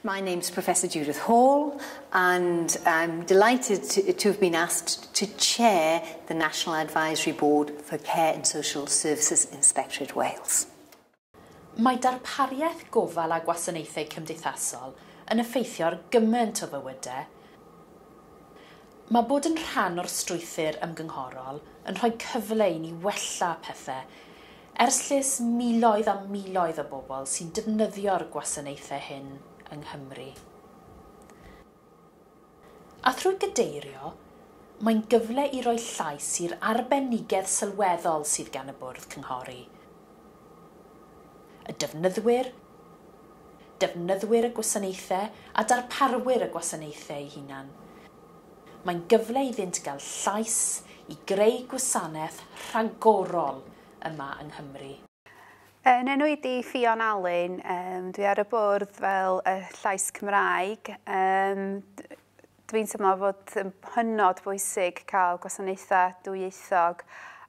My name's Professor Judith Hall and I'm delighted to, to have been asked to chair the National Advisory Board for Care and Social Services Inspectorate Wales. Mae darpariaeth gofal a gwasanaethau cymdeithasol yn effeithio ar gymaint o fywydau, Mae bod yn rhan o'r strwythur ymgynghorol yn rhoi cyfle i ni wella pethe ers lles miloedd a miloedd o bobl sy'n defnyddio'r gwasanaethau hyn yng Nghymru. A thrwy gadeirio, mae'n gyfle i roi llais i'r arbenigedd sylweddol sydd gan y Bwrdd Cynghori, y defnyddwyr, defnyddwyr y gwasanaethau a darparwyr y gwasanaethau eu hunain. Mae'n gyfle iddynt gael llais i greu gwasanaeth rhagorol yma yng Nghymru. Yn enwyd i Ffion Alun, dwi ar y bwrdd fel y llais Cymraeg. Dwi'n teimlo fod yn hynod bwysig cael gwasanaethau dwyieithog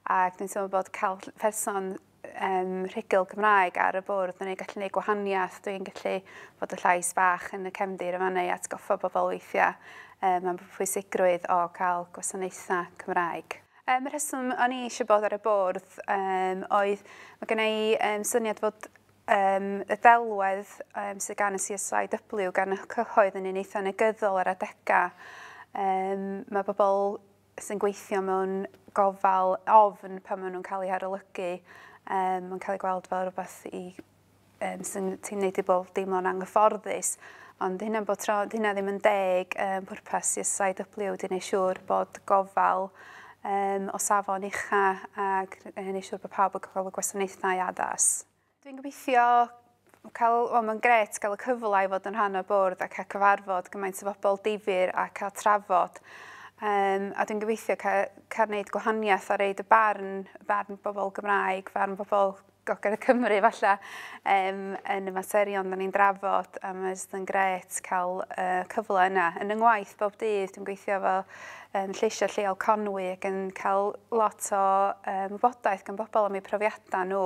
ac dwi'n teimlo bod cael person um, rhugl Cymraeg ar y bwrdd yn ei gallu gwneud gwahaniaeth. Dwi'n gallu bod y llais bach yn y cefndir yma neu atgoffa bobl weithiau um, am pwysigrwydd o cael gwasanaethau Cymraeg. Um, y rheswm o'n i eisiau bod ar y bwrdd um, oedd, mae gen i um, syniad fod um, y ddelwedd um, sydd gan y CSIW, gan y cyhoedd yn un eitha negyddol ar adegau. Um, mae bobl sy'n gweithio mewn gofal ofn pan maen nhw'n cael eu harolygu, um, mae'n cael ei gweld fel rhywbeth i, um, sy'n ti'n neud i bobl deimlo'n anghyfforddus. Ond hynna, bod tro, hynna ddim yn deg um, pwrpas i SIW wedi gwneud siŵr bod gofal um, o safon ucha ac yn gwneud siŵr bod pawb yn cael y gwasanaethau addas. Dwi'n gobeithio cael, wel mae'n gret gael y cyfle i fod yn rhan o'r bwrdd a cael cyfarfod gymaint o bobl difyr a cael trafod. Um, a dwi'n gobeithio cael, cael gwneud gwahaniaeth a reid y barn, y barn bobl Gymraeg, barn bobl Gogledd Cymru falle, um, yn y materion da ni'n drafod a mae'n just yn gret cael uh, cyfle yna. Yn yng ngwaith bob dydd dwi'n gweithio fel um, lleisiau lleol Conwy ac yn cael lot o um, wybodaeth gan bobl am eu profiadau nhw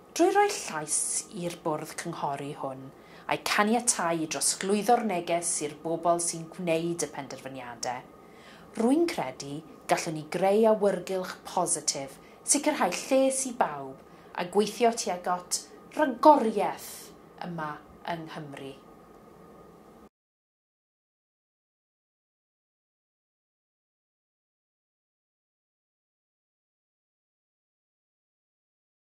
Drwy roi llais i'r bwrdd cynghori hwn, a'i caniatáu i drosglwyddo'r neges i'r bobl sy'n gwneud y penderfyniadau, rwy'n credu gallwn ni greu awyrgylch positif, sicrhau lles i bawb a gweithio tuag at ragoriaeth yma yng Nghymru.